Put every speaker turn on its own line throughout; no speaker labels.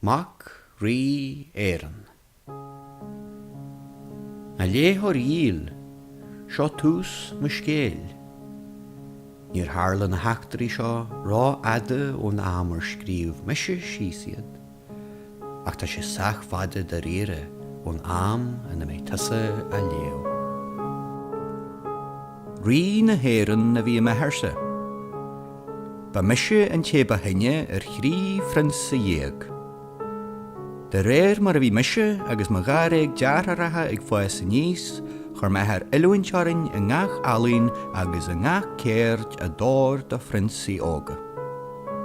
Mac Rí Éireann. A léitheoir dhíl, seo tús mo scéil. Níor tharla na heachtraí seo rófhada ón am ar scríobh mise síos iad. ach tá sé sách fada dáiríre ón am ina mbeidh tusa á léamh. Rí na hÉireann a bhí i m'athairse. Ba mise an té ba shine ar thrí phrionsa dhéag. De réir mar a bhí mise agus mo dháréag deartháireacha ag fás aníos, chuir m'athair oiliúint orainn i ngach ealaín agus i ngach ceird a d'fhóir do phrionsaí óga.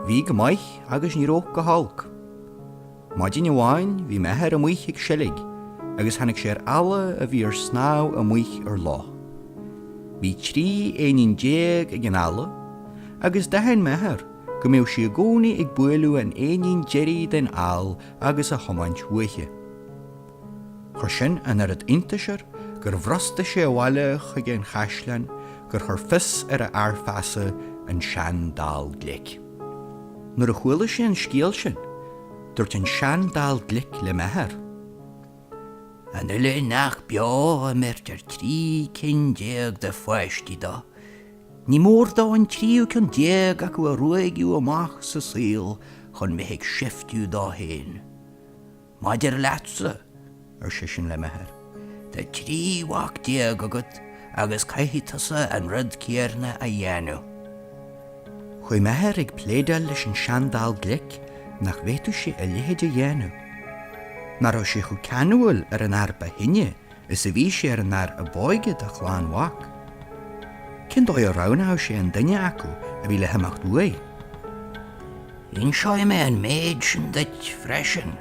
Bhí go maith agus ní raibh go holc. Maidin amháin bhí m'athair amuich ag seilg agus tháinig sé ar eala a bhí ar snámh amuich ar loch. Bhí trí éinín déag ag an eala agus d'aithin m'athair go mbeadh sí i gcónaí ag bualadh an éinín deiridh den ál agus á thiomáint uaithi. Chuir sin an oiread iontais air gur bhrostaigh sé abhaile chuig an chaisleán gur chuir fios ar a fhear feasa, an seandall glic. Nuair a chuala sé an scéal sin, dúirt an seandall glic le m'athair. An uile neach beo a mbeirtear trí cinn déag de pháistí dó, ní mór dó an tríú ceann déag acu a ruaigeadh amach sa saol chun bheith ag seiftiú dó féin. Maidir leatsa, ar seisean le m'athair, tá trí mhac déag agat agus caithfidh tusa an rud céarna a dhéanamh. Chuaigh m'athair ag pléadáil leis an seandall glic nach bhféadfadh sé a leithéid a dhéanamh. Nach raibh sé chomh ceanúil ar an fhear ba shine Is a bhí sé ar an fhear ab óige de chlann mhac. Cén dóigh a roghnódh sé an duine acu a bhí le himeacht uaidh? Inseoidh mé an méid sin duit freisin,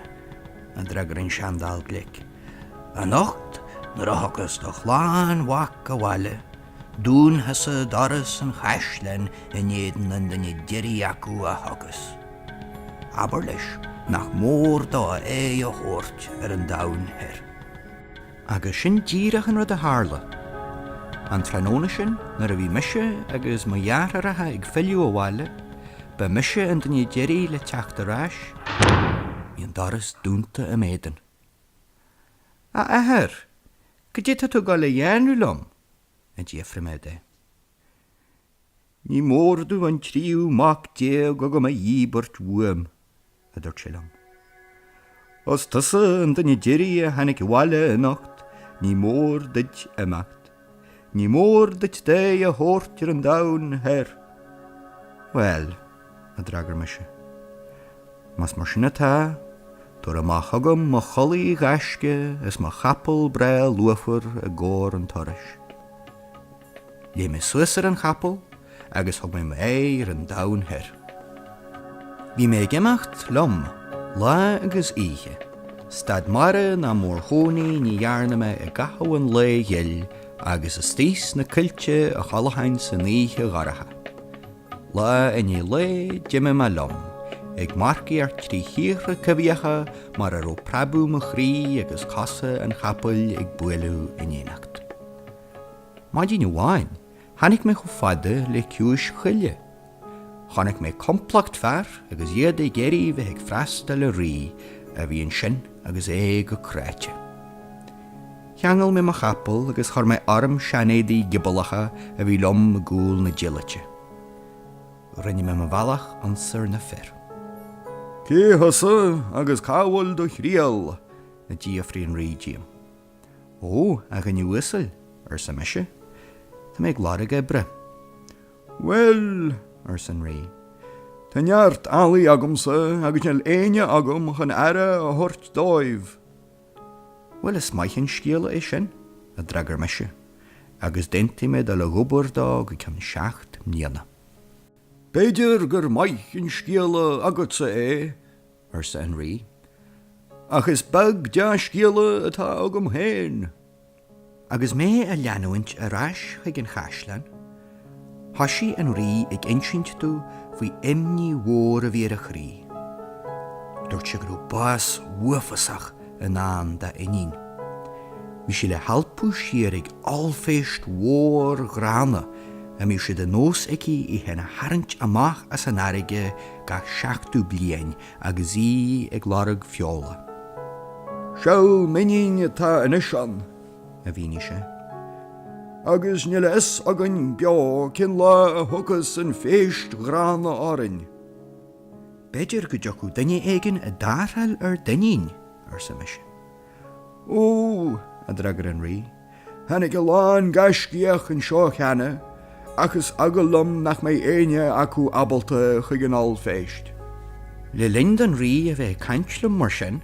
a d'fhreagair an seandall glic. Anocht, nuair a thiocfas do chlann mhac abhaile, Dún thusa doras an chaisleáin in éadan an duine deiridh acu a thiocfas. Abair leis nach mór dó aghaidh a thabhairt ar an domhan thoir. Agus sin díreach an rud a tharla. An tráthnóna sin, nuair a bhí mise agus mo dheartháireacha ag filleadh abhaile, ba mise an duine deiridh le teacht ar ais, bhí an doras dúnta i m'éadan. A athair, Cad é tá tú ag gabháil a dhéanamh liom? a d'fhiafraigh mé de. Ní mór domh an tríú mac déag agam a dhíbirt uaim, a dúirt sé liom. Os tusa an duine deiridh a tháinig abhaile anocht, ní mór duit imeacht. Ní mór duit d'aghaidh a thabhairt ar an domhan thoir. Bhuel. a d'fhreagair mise. Más mar sin atá, tabhair amach chugam mo chulaith ghaisce is mo chapall breá lúfar i gcomhair an turais. Léim mé suas ar an chapall agus thug mé m'aghaidh ar an domhan thoir. Bhí mé ag imeacht liom lá agus oíche, stad mara ná mórchónaí ní dhearna mé i gcaitheamh an lae ghil agus istigh sna coillte a chodlóinn san oíche dhorcha. Lá i ndiaidh lae, d'imigh mé liom, ag marcaíocht trí thíortha coimhthíocha mar a raibh preabadh mo chroí agus cosa an chapaill ag bualadh in éineacht. Maidin amháin, tháinig mé chomh fada le ciumhais choille. Chonaic mé complacht fear agus iad ag iarraidh bheith ag freastal ar rí a bhí ansin agus é go cráite. Cheangail mé mo chapall agus chuir mé orm seanéadaí giobalacha a bhí liom i gcúl na diallaite. Rinne mé mo bhealach ionsar na fir. Cé thusa agus cá bhfuil do thriall? a d'fhiafraigh an Rí díom. Ó, a dhuine uasail, arsa mise, tá mé ag lorg oibre. Bhuel, arsa an Rí, tá neart eallaigh agamsa agus níl éinne agam chun aire a thabhairt dóibh. Bhuel, is maith an scéala é sin, a d'fhreagair mise, agus d'aontaigh mé dul ag obair dó go ceann seacht mbliana. B'fhéidir gur maith an scéala agatsa é, arsa an Rí, ach is beag dea-scéala atá agam féin. Agus mé a' leanúint ar ais chuig an chaisleán, thoisigh an Rí ag insint domh faoi imní mhór a bhí ar a chroí. Dúirt sé go rabh bás uafasach i ndán dá inín. Bhí sí le halpadh siar ag ollphéist mhór ghránna a mbíodh sé de nós aici í fhéin a tharraingt amach as an fharraige gach seachtú bliain agus í ag lorg feola.
Seal m'iníne atá anois ann, a mhínigh sé, agus níl a fhios againn beo cén lá a thiocfas an phéist ghránna
orainn. B'fhéidir go dtiocfadh duine éigin i dtarrtháil ar d'iníon, arsa mise,
Ó! a
d'fhreagair an Rí, tháinig a
lán gaiscíoch anseo cheana ach is eagal liom nach mbeidh éinne acu ábalta chuig an ollphéist. Le linn
don Rí a bheith ag caint liom mar sin,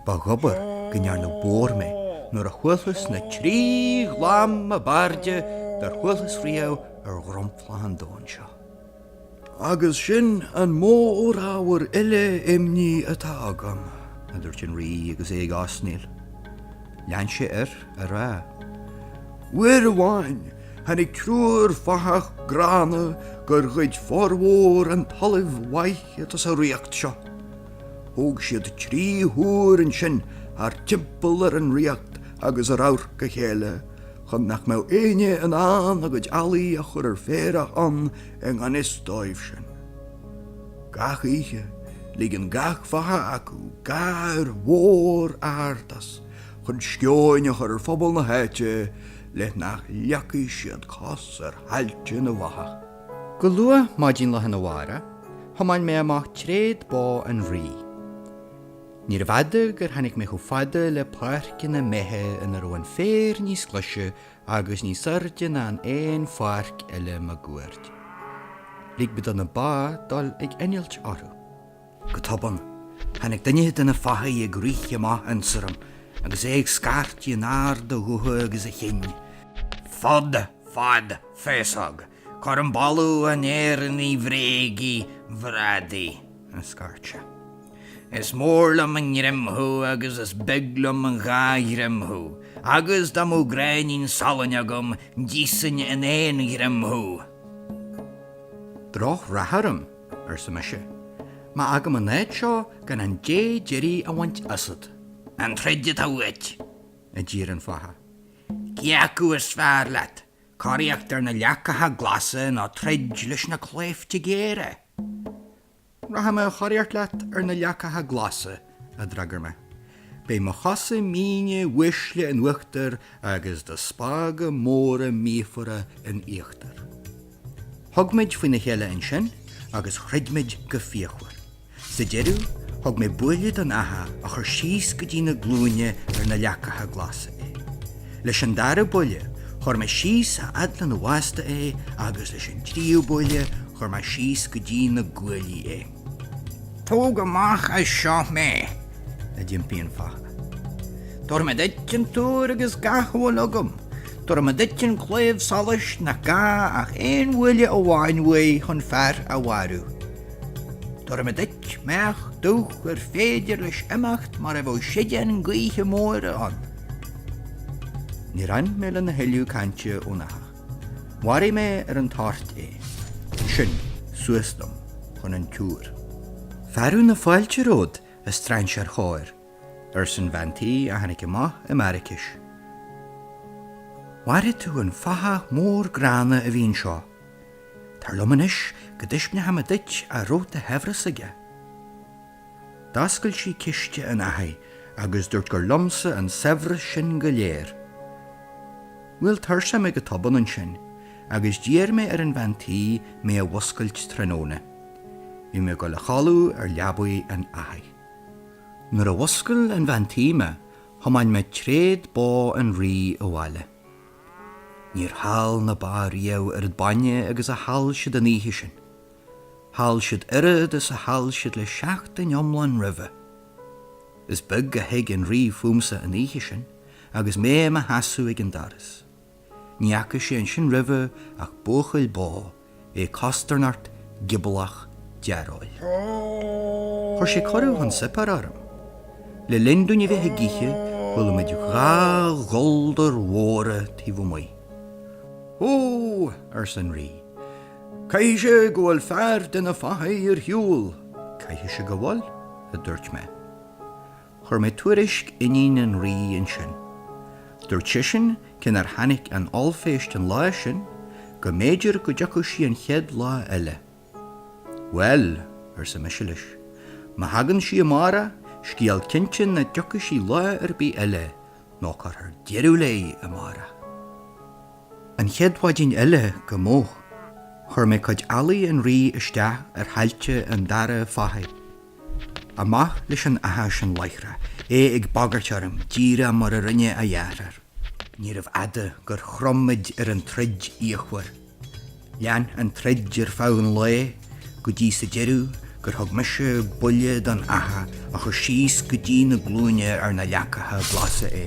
ba dhóbair go ndearnadh bodhar mé nuair a chualthas na trí ghlam ab airde dár chualthas riamh ar dhromchla an domhain seo.
Agus sin an mórábhar eile imní atá agam, a dúirt an
Rí agus é ag osnaíl. Lean sé air á rá,
Uair amháin tháinig triúr fathach gránna gur ghoid formhór an talaimh mhaith atá sa ríocht seo. Thóg siad trí thúr ansin thart timpeall ar an ríocht agus ar amharc a chéile chun nach mbeadh éinne in ann a gcuid eallaigh a chur ar féarach ann i ngan fhios dóibhsean. Gach oíche, ligeann gach fathach acu gáir mhór ard as chun sceoin a chur ar phobal na háite le nach leagfaidh siad cos ar thailte na bhfathach. Go luath
maidin lá arna mhárach, thiomáin mé amach tréad bó an Rí. Níorbh fhada gur tháinig mé chomh fada le páirceanna méithe ina raibh an féar níos glaise agus níos airde ná in aon pháirc eile maguaird. Lig mé do na ba dul ag innilt orthu. Go tobann, tháinig duine de na fathaigh ag rith amach ionsorm agus é ag scairtigh in ard a ghutha agus a chinn, Fud,
fad, féasóg, cuirim boladh an Éireannaigh bhréagaigh, bhradaigh. a scairt
sé.
Is mór liom i ngreim thú agus is beag liom in dhá ghreim thú, agus dá mbeadh gráinnín salainn agam d'íosfainn in aon ghreim thú.
Drochrath orm, arsa mise, má fhágaim an áit seo gan an dé deiridh a bhaint asat. An troid
atá uait? a d'iarr
an fathach. Cé acu
is fearr leat, coraíocht ar na leacacha glasa nó troid leis na claimhte géara?
Rachaidh mé a choraíocht leat ar na leacacha glasa, a d'fhreagair mé. Beidh mo chosa míne uaisle in uachtar agus do spága móra míofara in íochtar. Thug muid faoina chéile ansin agus throid muid go fíochmhar. Sa deireadh, thug mé buille don fhathach a chuir síos go dtí na glúine ar na leacacha glasa é. Leis an dara buille, chuir mé síos a fhad lena bhásta é agus leis an tríú buille, chuir mé síos go dtí na guaillí é. Tóg
amach as seo mé! a d'impigh
an fathach. Tabharfaidh
mé duit an túr agus gach a bhfuil agam. Tabharfaidh mé duit an claíomh solais nach gá ach aon bhuille amháin uaidh chun fear a mharú. Tabharfaidh mé duit m'each dubh ar féidir leis imeacht mar a bheadh seideán gaoithe móire ann.
Níor fhan mé lena thuilleadh cainte ón fhathach. Mharaigh mé ar an toirt é. Ansin, suas liom chun an túir. Fearadh na fáilte romhat, a strainséir chóir, arsan bhean tí a tháinig amach i m'araicis. Mharaigh tú an fathach mór gránna a bhí anseo. Tar liom anois go dtaispeánfaidh mé duit a raibh de shaibhreas aige. D'fhoscail sí ciste an fhathaigh agus dúirt gur liomsa an saibhreas sin go léir. Bhuail tuirse mé go tobann ansin agus d'iarr mé ar an bhean tí mé a mhuscailt tráthnóna. Bhí mé ag dul a chodladh ar leabaidh an fhathaigh. Nuair a mhuscail an bhean tí mé thiomáin mé tréad bó an rí abhaile. Níor thál na ba riamh oiread bainne agus a thál siad an oíche sin. Thál siad oiread is a thál siad le seachtain iomlán roimhe. Is beag a thuig an Rí fúmsa an oíche sin agus mé i mo sheasamh ag an doras. Ní fhaca sé ansin roimhe ach buachaill bó, é costarnocht, gioblach, dearóil. Chuir sé cuireadh chun suipéir orm. Le linn dúinn a bheith ag ithe, chuala muid dhá ghuldar mhóra taobh amuigh. Ó! arsa an Rí, Caithfidh
sé go bhfuil fear de na fathaigh ar shiúl. Caithfidh sé
go bhfuil, a dúirt mé. Chuir mé tuairisc iníon an rí ansin. Dúirt seisean cé nár tháinig an ollphéist an lá sin go mb'fhéidir go dtiocfadh sí an chéad lá eile. Bhuel, arsa mise leis, má thagann sí amárach, scéal cinnte nach dtiocfaidh sí lá ar bith eile, nó cuirfear deireadh léi amárach. An chéad mhaidin eile go moch chuir mé cuid eallaigh an rí isteach ar thailte an dara fathaigh. Amach leis an fhathach sin láithreach, é ag bagairt orm díreach mar a rinne a dheartháir. Níorbh fhada gur chrom muid ar an troid fhíochmhar. Lean an troid ar feadh an lae go dtí sa deireadh gur thug mise buille don fhathach a chuir síos go dtí na glúine ar na leacacha glasa é.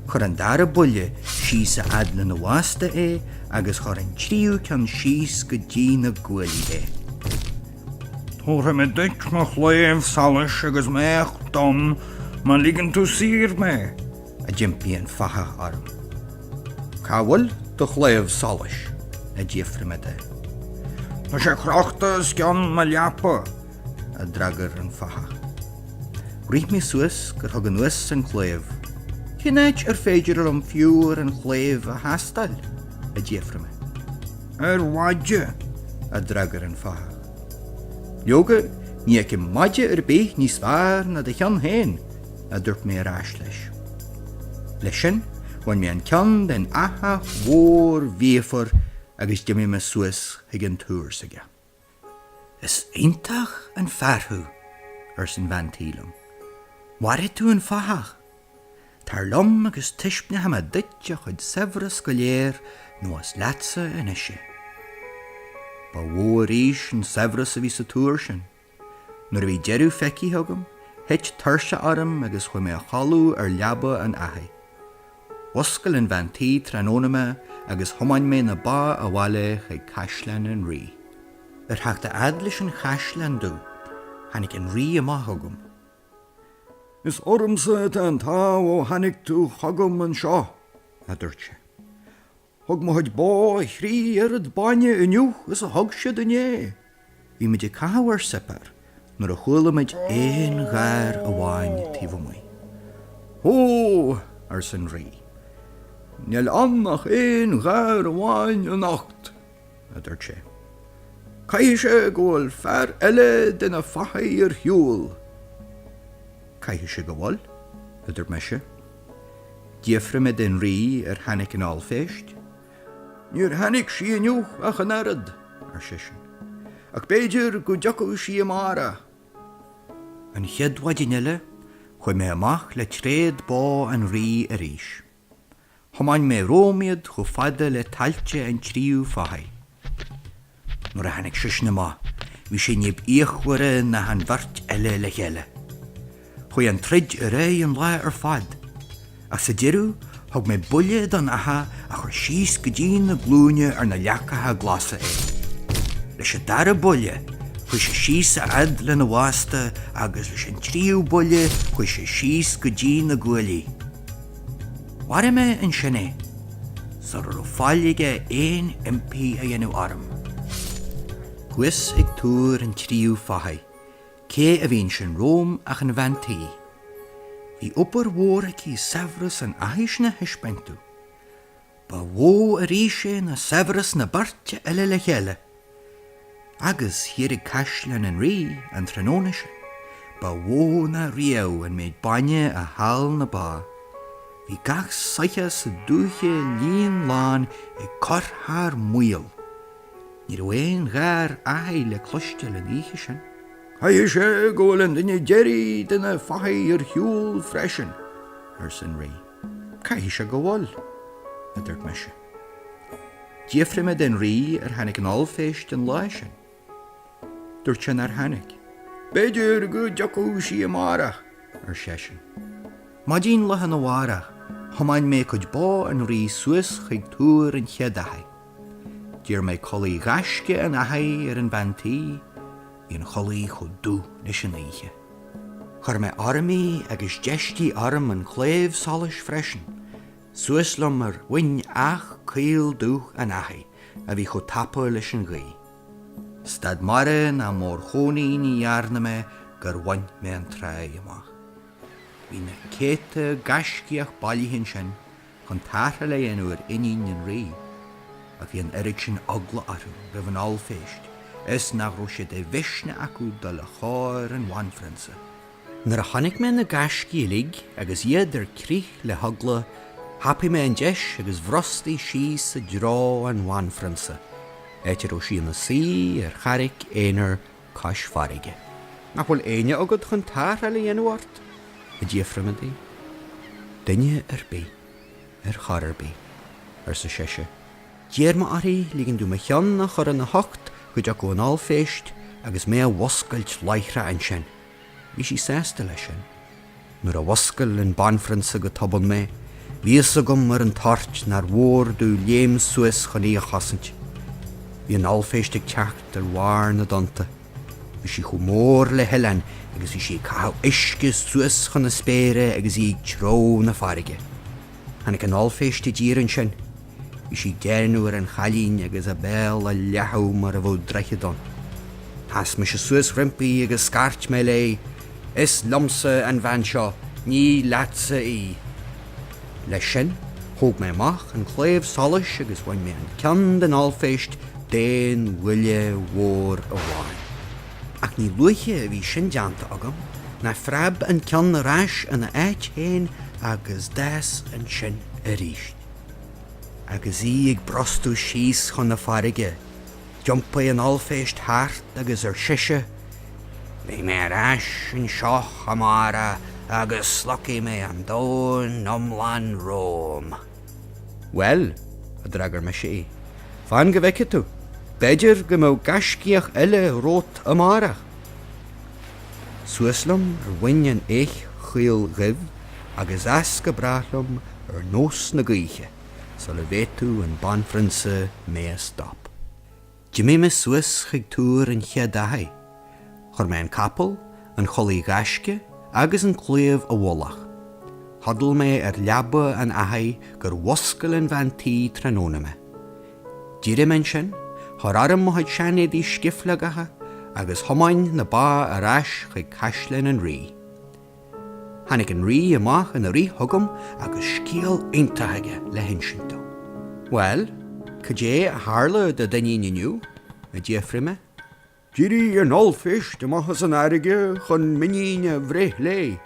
Chuir an dara buille síos a fhad lena bhásta é agus chuir an tríú ceann síos go dtí na guaillí
é. Tabharfaidh mé duit mo chlaíomh solais agus m'each donn má ligeann tú saor mé. a d'impigh
an fathach orm. Ca bhfuil do chlaidheamh soluis? a d'fhiafraigh me de. Tá sé
crochta os cionn mo leapa, a d'fhreagair
an fathach. Rith mé suas gur thug mé anuas an claidheamh. Cén áit ar féidir liom faobhar an chlaidhimh a thástáil? a d'fhiafraigh mé.
Ar mhaide, a
d'fhreagair an fathach. Leoga, ní fheicim maide ar bith níos measa ná do cheann féin, a dúirt mé ar ais leis. Leis sin, bhain mé an ceann den fhathach mhór mhíofar agus d'imigh mé suas chuig an túr s'aige. Is iontach an fear thú, arsa an bhean tí liom. Mharaigh tú an fathach. Tar liom agus taispeánfaidh mé duit a chuid saibhris go léir nó is leatsa anois é. Ba mhó arís an saibhreas a bhí sa túr sin. Nuair a bhí deireadh feicthe agam, thit tuirse orm agus chuaigh mé a chodladh ar leaba an fhathaigh. Mhuscail an bhean tí tráthnóna mé agus thiomáin mé na ba abhaile chuig caisleán an Rí. Ar theacht a fhad leis an chaisleán domh, tháinig an Rí amach chugam.
Is ormsa atá an t-ádh ó tháinig tú chugam anseo, a dúirt sé. Thug mo chuid bó a thrí oiread bainne inniu is a thug siad inné. Bhí muid
ag caitheamh ár suipéar nuair a chuala muid aon gháir amháin taobh amuigh.
Ó! arsa an
rí.
Níl ann ach aon gháir amháin anocht, a dúirt
sé.
Caithfidh sé go bhfuil fear eile de na fathaigh ar shiúl.
Caithfidh sé go bhfuil, a dúirt mise. D'fhiafraigh mé den Rí ar tháinig an ollphéist.
Níor tháinig sí inniu ach an oiread, ar seisean,
ach b'fhéidir
go dtiocfadh sí amárach.
An chéad mhaidin eile, chuaigh mé amach le tréad bó an Rí arís. Thiomáin mé romham iad chomh fada le tailte an tríú fathach. Nuair a tháinig seisean amach, bhí sé níb fhíochmhaire ná an bheirt eile le chéile. Chuaigh an troid ar aghaidh an lá ar fad, ach sa deireadh thug mé buille don fhathach a chuir síos go dtí na glúine sna leacacha glasa é. Leis an dara buille, chuaigh sé síos a fhad lena bhásta agus leis an tríú buille chuaigh sé síos go dtí na guaillí. Mharaigh mé ansin é, sula raibh faill aige aon impí a dhéanamh orm. Thuas ag túr an tríú fathaigh, cé a bhí ansin romham ach an bhean tí. Bhí obair mhór aici saibhreas an fhathaigh sin a thaispeáint dom. Ba mhó arís é ná saibhreas na beirte eile le chéile. Agus thiar ag caisleán an Rí an tráthnóna sin. Ba mhó ná riamh an méid bainne a thál na ba. Bhí gach soitheach sa dúiche líonlán ag cur thar maoil. Ní raibh aon gháir fhathaigh le cloisteáil an oíche sin. Caithfidh sé
go bhfuil an duine deiridh de na fathaigh ar shiúl freisin, arsa an Rí.
Caithfidh sé go bhfuil, a dúirt mise. D'fhiafraigh mé den Rí ar tháinig an ollphéist an lá sin. Dúirt sé nár tháinig. B'fhéidir go
dtiocfadh sí amárach, ar seisean.
Maidin lá arna mhárach, thiomáin mé cuid bó an Rí suas chuig túr an chéad fhathaigh. D'iarr mé culaith ghaisce an fhathaigh ar an bhean tí. Bhí an chulaith chomh dubh leis an oíche. Chuir mé orm í agus d'fheistigh orm an claíomh solais freisin. Suas liom ar mhuin each caol dubh an fhathaigh a bhí chomh tapa leis an ghaoth. Stad m'aire ná mórchónaí ní dhearna mé gur bhain mé an tráigh amach. Bhí na céadta gaiscíoch bailithe ansin chun tarrtháil a dhéanamh ar iníon an Rí, ach bhí an oiread sin eagla orthu roimh an ollphéist is nach raibh sé de mhisneach acu dul le chóir an bhanphrionsa. Nuair a chonaic mé na gaiscígh uilig agus iad ar crith le heagla, thapaigh mé an deis agus bhrostaigh síos i dtreo an bhanphrionsa, áit a raibh sí ina suí ar charraic aonair cois farraige. Nach bhfuil éinne agat chun tarrtháil a dhéanamh ort? a d'fhiafraigh mé di. Duine ar bith. Ar chor ar bith, arsa sise. D'iarr mé uirthi ligean domh mo cheann a chur ina hucht go dtiocfadh an ollphéist agus mé a mhuscailt láithreach ansin. Bhí sí sásta leis sin. Nuair a mhuscail an banphrionsa go tobann mé, bhí fhios agam ar an toirt nár mhór domh léim suas chun í a chosaint. Bhí an ollphéist ag teacht ar bharr na dtonnta. Bhí sí chomh mór le hoileán agus bhí sí ag caitheamh uisce suas chun na spéire agus í ag treabhadh na farraige. Tháinig an ollphéist i dtír ansin. Bhí sí ag déanamh ar an chailín agus a béal ar leathadh mar a bheadh droichead ann. Sheas mise suas roimpi agus scairt mé léi, 'Is liomsa an bhean seo, ní leatsa í! Leis sin, thóg mé amach an claíomh solais agus bhain mé an ceann den ollphéist d'aon bhuille mhór amháin. Ach ní luaithe a bhí sin déanta agam ná phreab an ceann ar ais ina áit féin agus d'fhás ansin arís. Agus í ag brostú síos chun na farraige, d'iompaigh an ollphéist thart agus arsa sise, Beidh mé ar ais anseo amárach agus slogfaidh mé an domhan iomlán romham. Bhuel, a d'fhreagair mise í, fan go bhfeicfidh tú, b'fhéidir go mbeadh gaiscíoch eile romhat amárach. Suas liom ar mhuin an eich chaoil dhuibh agus as go brách liom ar nós na gaoithe sula bhféadfadh an banphrionsa mé a stop. D'imigh mé suas chuig túr an chéad fhathaigh. Chuir mé an capall, an chulaith ghaisce agus an claíomh i bhfolach. Chodail mé ar leaba an fhathaigh gur mhuscail an bhean tí tráthnóna mé. D'éirigh mé ansin, chuir orm mo chuid seanéadaí scifleogacha, agus thiomáin na ba ar ais chuig caisleán an rí. Tháinig an rí amach ina rith chugam agus scéal iontach aige le hinsint dom. Bhuel, cad é a tharla do d'iníon inniu? a d'fhiafraigh mé. D'éirigh
an ollphéist amach as an fharraige chun m'iníne a bhreith léi.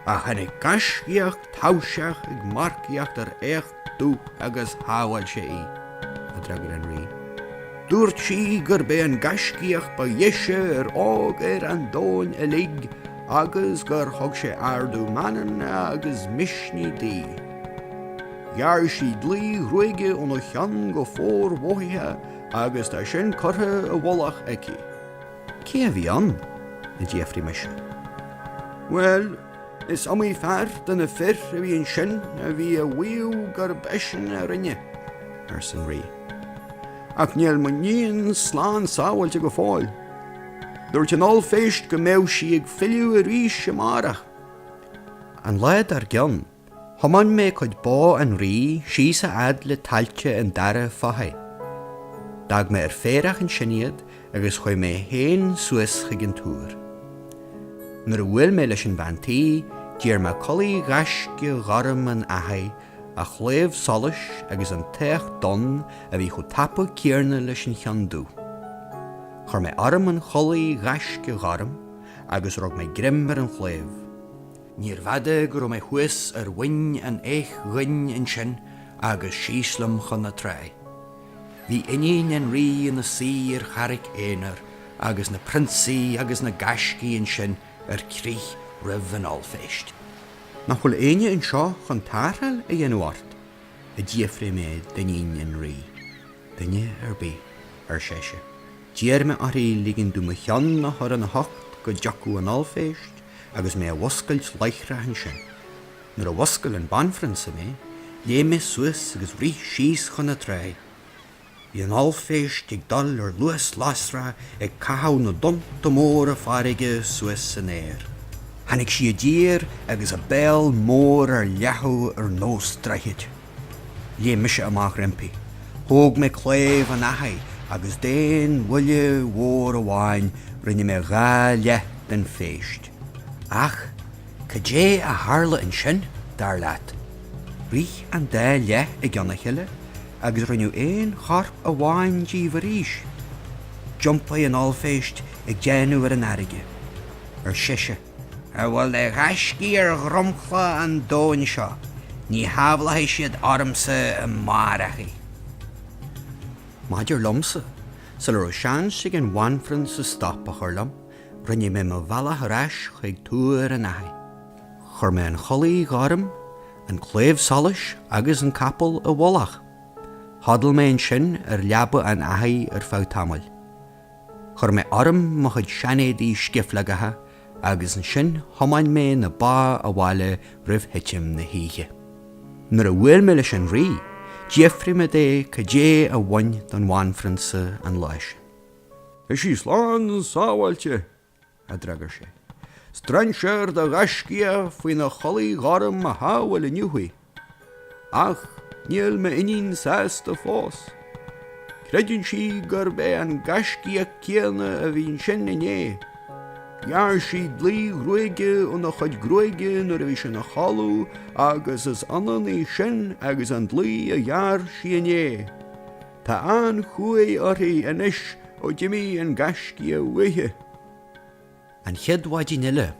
Ach tháinig gaiscíoch taibhseach ag marcaíocht ar each dubh agus shábháil sé í, a d'fhreagair an Rí. Dúirt sí gurb é an gaiscíoch ba dheise ar fhág ar an domhan uilig agus gur thug sé ardú meanman agus misnigh di. Ghearr sí dlaoi ghruaige óna cheann go formhothaithe Agus tá sin curtha i bhfolach aici. Cé
a bhí ann? a d'fhiafraigh mise. Bhuel,
is iomaí fear de na fir a bhí ansin a bhí á mhaíomh gurb eisean a rinne, arsa an
Rí.
Ach níl m'iníon slán sábháilte go fóill. Dúirt an ollphéist go mbeadh sí ag filleadh arís amárach.
An lá dár gcionn, Thiomáin mé chuid bó an rí síos a fhad le tailte an dara fathaigh. D'fhág mé ar féarach ansin iad agus chuaigh mé féin suas chuig an túr. Nuair a bhuail mé leis an bhean tí, d'iarr mé culaith ghaisce ghorm an fhathaigh, a chlaíomh solais agus an t-each donn a bhí chomh tapa céanna leis an cheann dubh. Chuir mé orm an chulaith ghaisce ghorm agus rug mé greim ar an chlaíomh. Níorbh fhada go raibh mé thuas ar mhuin an eich dhoinn ansin agus síos liom chun na trá. Bhí iníon an rí ina suí ar charraic aonair agus na prionsaí agus na gaiscígh ansin ar crith roimh an ollphéist. Nach bhfuil éinne anseo chun tarrtháil a dhéanamh ort? a d'fhiafraigh mé d'iníon an rí. duine ar bith, ar sise, d'iarr mé uirthi ligean dom mo cheann a chur ina hucht go dtiocfadh an ollphéist agus mé a mhuscailt láithreach ansin. Nuair a mhuscail an banphrionsa mé, léim mé suas agus rith síos chun na trá. Bhí an ollphéist ag dul ar luas lasrach ag caitheamh na dtonnta móra farraige suas san aer. Tháinig sí i dtír agus a béal mór ar leathadh ar nós droichid. Léim mise amach roimpi. Thóg mé claíomh an fhathaigh agus d'aon bhuille mhór amháin rinne mé dhá leith den phéist. Ach cad é a tharla ansin, dar leat? Rith an dá leith i gceann a chéile agus rinneadh aon chorp amháin díobh arís. D'iompaigh an ollphéist ag déanamh ar an fharraige, ar sise. A bhfuil de ghaiscígh ar dhromchla an domhain seo, ní shábhálfaidh siad ormsa amárach í. Maidir liomsa, sula raibh seans ag an bhanphrionsa stop a chur liom, rinne mé mo bhealach ar ais chuig túr an fhathaigh. Chuir mé an chulaith ghorm, an claíomh solais agus an capall i bhfolach. Chodail mé ansin ar leaba an fhathaigh ar feadh tamaill. Chuir mé orm mo chuid seanéadaí scifleagacha agus ansin thiomáin mé na ba abhaile roimh thitim na hoíche. Nuair a bhuail mé leis an rí, d'fhiafraigh mé de cad é a bhain don bhanphrionsa an lá sin. Bhí sí
slán sábháilte, a
d'fhreagair sé.
Strainséir de ghaiscíoch faoina chulaith ghorm a shábhail inniu í. Ach níl m'iníon sásta fós. Creideann sí gurb é an gaiscíoch céanna a bhí ansin inné. Ghearr sí dlaoi ghruaige óna chuid gruaige nuair a bhí sé ina chodladh agus is ionann í sin agus an dlaoi a ghearr sí inné. Tá an-chumha uirthi anois ó d'imigh an gaiscíoch
uaithi. An chéad mhaidin eile,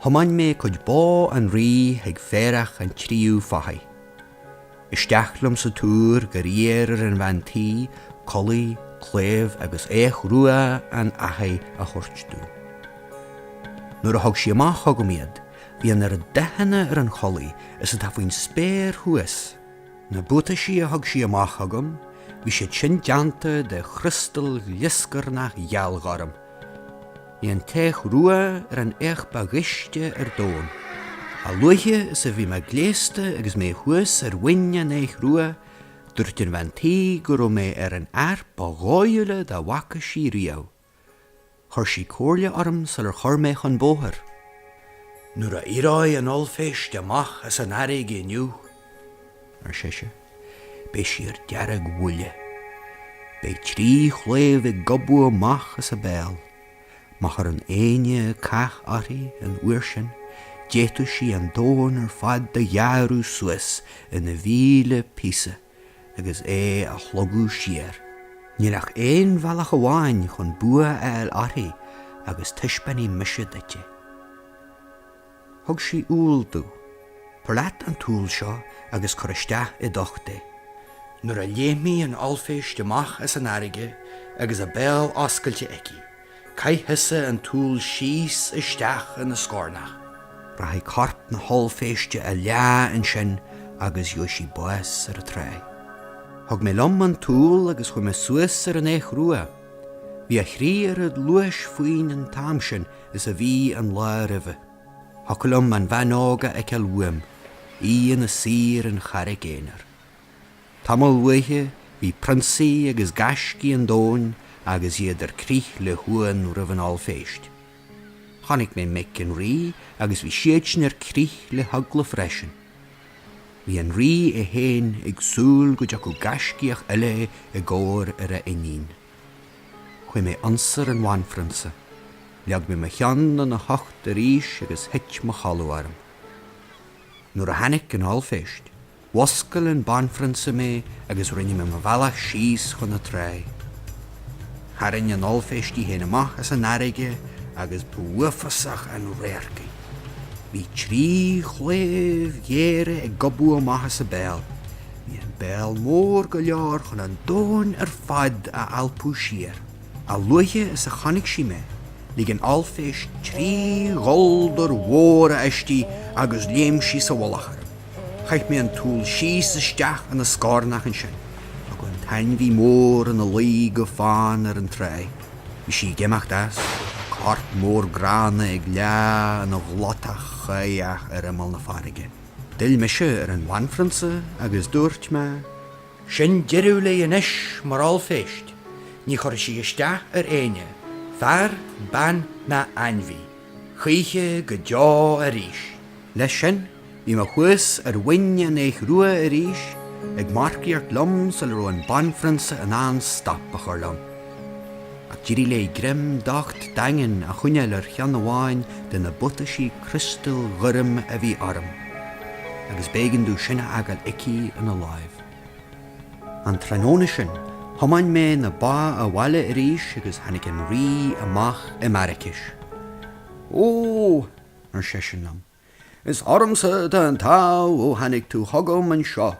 thiomáin mé cuid bó an rí chuig féarach an tríú fathaigh. Isteach liom sa túr gur iarr ar an bhean tí culaith, claíomh agus each rua an fhathaigh a thabhairt dom. Nuair a thug sí amach chugam iad, bhí an oiread dathanna ar an chulaith is atá faoin spéir thuas, Na buataisí a thug sí amach chugam, bhí siad sin déanta de chriostal ghlioscarnach ghealghorm. Bhí an t-each rua ar an each ba ghaiste ar domhan. A luaithe is a bhí mé gléasta agus mé thuas ar mhuin an eich rua, dúirt an bhean tí go raibh mé ar an fhear ba dhóighiúla dá bhfaca sí riamh. Chuir sí comhairle orm sular chuir mé chun bóthair. Nuair a éireoidh an ollphéist amach as an fharraige inniu, ar sise, beidh sí ar deargbhuile. Beidh trí chlaíomh ag gobadh amach as a béal. Má chuireann éinne cath uirthi an uair sin, d'fhéadfadh sí an domhan ar fad a ghearradh suas ina mhíle píosa. agus é a shlogadh siar. Níl ach aon bhealach amháin chun bua a fháil uirthi agus taispeánfaidh mise duit é. Thug sí úll domh. Tabhair leat an t-úll seo agus cuir isteach i d'ucht é. Nuair a léimfidh an ollphéist amach as an fharraige agus a béal oscailte aici, Caith thusa an t-úll síos isteach ina scornach. Rachaidh corp na hollphéiste a leá ansin agus gheobhaidh sí bás ar an tráigh. Thug mé liom an t-úll agus chuaigh mé suas ar an each rua. Bhí a thrí oiread luais faoin an t-am sin is a bhí an lá roimhe. Thiocfadh liom an bhean óg a fheiceáil uaim, í ina suí ar an charraig aonair. Tamall uaithe bhí prionsaí agus gaiscígh an domhain agus iad ar crith le huamhan roimh an ollphéist. Chonaic mé mic an rí agus bhí siadsan ar crith le heagla freisin. Bhí an rí é féin ag súil go dtiocfadh gaiscíoch eile i gcabhair ar a iníon. Chuaigh mé ionsar an bhanphrionsa. Leag mé mo cheann ina hucht arís agus thit mo chodladh orm. Nuair a tháinig an ollphéist. Mhuscail an banphrionsa mé agus rinne mé mo bhealach síos chun na trá. Tharraing an ollphéist í féin amach as an fharraige agus b'uafásach an radharc í. Bhí trí chlaíomh ghéara ag gobadh amach as a béal. Bhí an béal mór go leor chun an domhan ar fad a alpadh siar. A luaithe is a chonaic sí mé, lig an ollphéist trí gholdar mhóra aisti agus léim sí sa mhullach orm. Chaith mé an t-úll síos isteach ina scornach ansin agus an t-ainmhí mór ina luí go fann ar an trá. Bhí sí ag imeacht as, corp mór gránna ag leá ina ghlóthach cháidheach ar imeall na farraige. D'fhill mise ar an bhanphrionsa agus dúirt mé. Sin deireadh léi anois, mar ollphéist. Ní chuirfidh sí isteach ar éinne, fear, bean ná ainmhí, choíche go deo arís. Leis sin, bhí mé thuas ar mhuin an eich rua arís, ag marcaíocht liom sula raibh an banphrionsa in ann stop a chur liom. Ach d'éirigh léi greim docht daingean a choinneáil ar cheann amháin de na buataisí criostail ghoirm a bhí orm, agus b'éigean domh sin a fhágáil aici ina láimh. An tráthnóna sin, thiomáin mé na ba abhaile arís agus tháinig an rí amach im' araicis. Ó!
ar
seisean liom. Is ormsa
atá an t-ádh ó tháinig tú chugam anseo.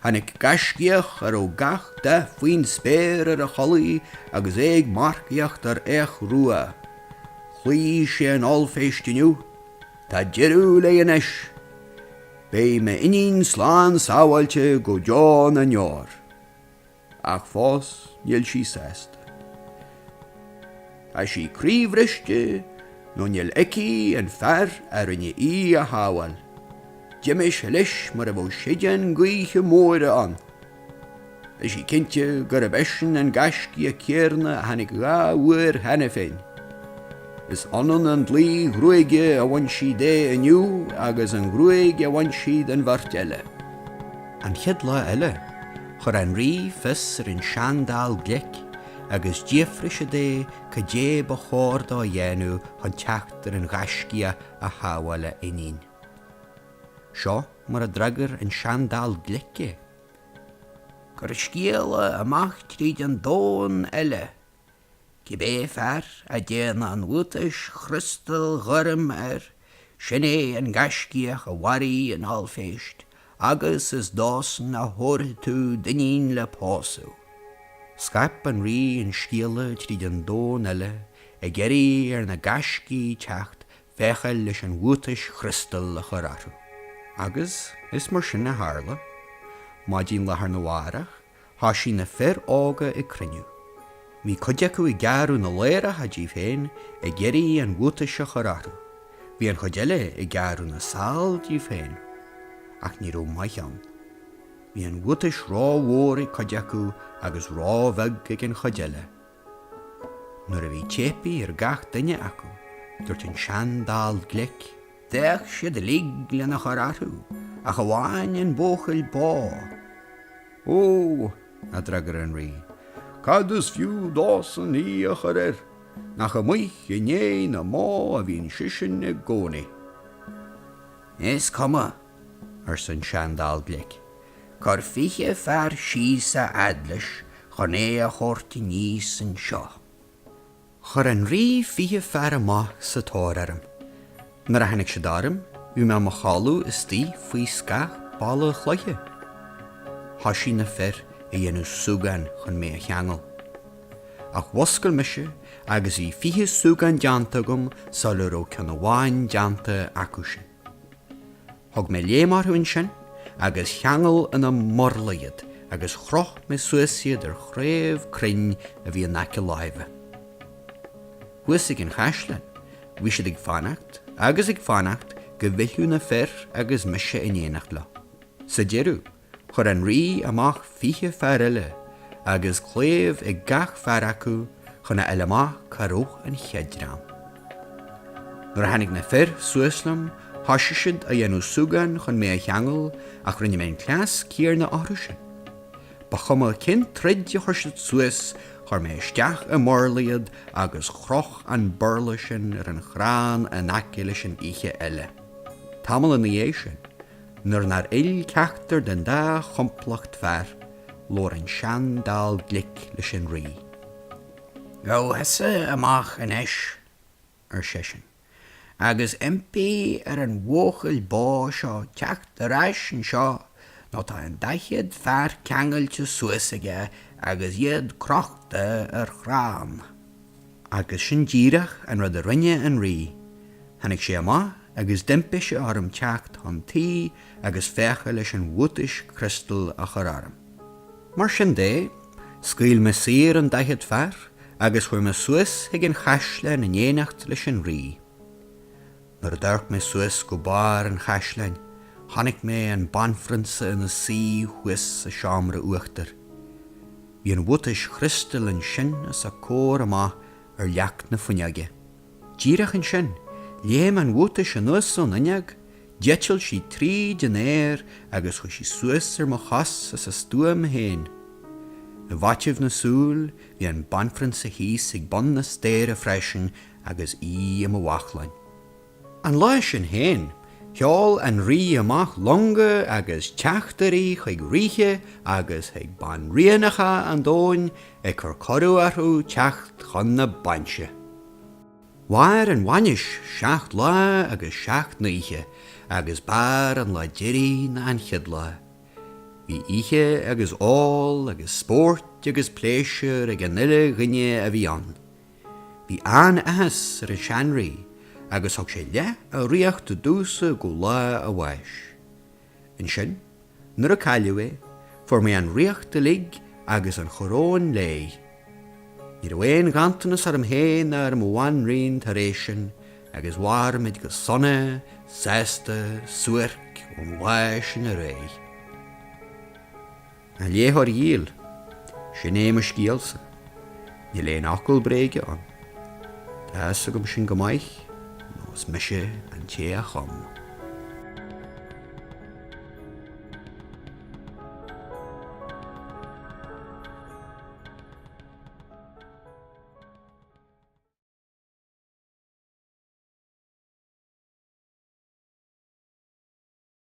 Tháinig gaiscíoch a raibh gach dath faoin spéir ar a chulaith agus é ag marcaíocht ar each rua. Chloígh sé an ollphéist inniu. Tá deireadh léi anois. Beidh m'iníon slán sábháilte go deo na ndeor. ach fós níl sí sásta. Tá sí croíbhriste nó níl aici an fear a rinne í a shábháil. D'imigh sé leis mar a bheadh séideán gaoithe móire ann. Tá sí cinnte gurb eisean an gaiscíoch céanna a tháinig dhá uair cheana féin. Is ionann an dlaoi ghruaige a bhain sí de inniu agus an ghruaig a bhain sí den bheirt eile.
An chéad lá eile, chuir an rí fios ar an sean-dall glic agus d'fhiafraigh sé de cad é ba chóir dó a dhéanamh chun teacht ar an ghaiscíoch a shábháil a iníon. Seo mar a d'fhreagair an sean-dall glic
é, Cuir scéala amach tríd an domhan uile Cibé fear a dtéann an bhuatais chriostail ghoirm air, sin é an gaiscíoch a mharaigh an ollphéist, agus is dósan a thabharfaidh tú d'iníon le pósadh.
Scaip an rí an scéala tríd an domhan uile ag iarraidh ar na gaiscígh teacht féacháil leis an bhuatais chriostail a chur orthu. Agus is mar sin a tharla. Maidin lá arna mhárach. Thoisigh na fir óga ag cruinniú. Bhí cuid acu ag gearradh na ladhracha díobh féin ag iarraidh an bhuatais a chur orthu. Bhí an chuid eile ag gearradh na sál díobh féin. Ach ní raibh maith ann. Bhí an bhuatais ró-mhór ag cuid acu agus ró-bheag ag an chuid eile. Nuair a bhí teipthe ar gach duine acu, dúirt an sean dall glic D'fhéach
siad uilig lena chur orthu ach amháin an buachaill bó.
Ó! a d'fhreagair
an Rí, cad is fiú
dósan í a chur air? Nach amuigh i ndéidh na mbó a bhíonn seisean i
gcónaí. Is cuma, arsa
an sean-dall glic, cuir fiche
fear síos a fhad leis chun é a thabhairt aníos anseo.
Chuir an rí fiche fear amach sa tóir orm. Nuair a tháinig siad orm, bhí mé i mo chodladh istigh faoi scáth balla cloiche. Thoisigh na fir a dhéanamh súgáin chun mé a cheangal. Ach mhuscail mise agus bhí fiche súgán déanta agam sula raibh ceann amháin déanta acusan. Thug mé léim orthu ansin agus cheangail ina mburla iad agus chroch mé suas iad ar chraobh crainn a bhí in aice láimhe. Thuas ag an chaisleán, bhí siad ag fanacht agus ag fanacht go bhfillfeadh na fir agus mise in éineacht leo. Sa deireadh, Chuir an rí amach fiche fear eile agus claíomh ag gach fear acu chun a fháil amach cá raibh an chéad dream. Nuair a tháinig na fir suas liom thoisigh siad a dhéanamh súgán chun mé a cheangal ach rinne mé an cleas céanna orthu sin. Ba chuma cén troid a chuir siad suas, chuir mé isteach i mburla iad agus chroch an burla sin ar an chrann in aice leis an fhiche eile. Tamall ina dhiaidh sin, nuair nár fhill ceachtar den dá chomplacht fear, labhair an sean dall glic leis an rí.
Gabh thusa amach anois, ar seisean,
agus
impigh ar an bhuachaill bó seo teacht ar ais anseo nó tá an daichead fear ceangailte suas aige agus iad crochta ar chrann.
Agus sin díreach an rud a rinne an Rí. Tháinig sé amach agus d'impigh sé orm teacht chun tí agus féachaint leis an bhuatais chriostail a chur orm. Mar sin de, scaoil mé saor an daichead fear agus chuaigh mé suas chuig an chaisleán in éineacht leis an Rí. Nuair a d'amharc mé suas go barr an chaisleáin, chonaic mé an banphrionsa ina suí thuas sa seomra uachtair. Bhí an bhuatais chriostail ansin os a comhair amach ar leac na fuinneoige. Díreach ansin, léim an bhuatais anuas ón fhuinneog, d'eitil sí tríd an aer agus chuaigh sí suas ar mo chos as a stuaim féin. I bhfaiteadh na súl, bhí an banphrionsa thíos ag bun na staighre freisin agus í i mo bhachlainn. An lá sin féin, sheol an rí amach longa agus teachtairí chuig ríthe agus chuig banríonacha an domhain ag cur cuireadh orthu teacht chun na bainse. Mhair an bhainis seacht lá agus seacht n-oíche agus b'fhearr an lá deiridh ná an chéad lá. Bhí ithe agus ól agus spórt agus pléisiúr ag an uile dhuine a bhí ann. Bhí an-athas ar an sean-rí agus thug sé leath a ríochta domhsa go lá a bháis. Ansin, nuair a cailleadh é, fuair mé an ríocht uilig agus an choróin léi. Ní raibh aon ghanntanas orm féin ná ar mo bhanríon tar éis sin agus mhair muid go sona, sásta, suairc ón am sin ar aghaidh. A léitheoir dhíl, sin é mo scéalsa. Níl aon fhocal bréige ann. Tá a fhios agam sin go maith, nós mise an té a chum.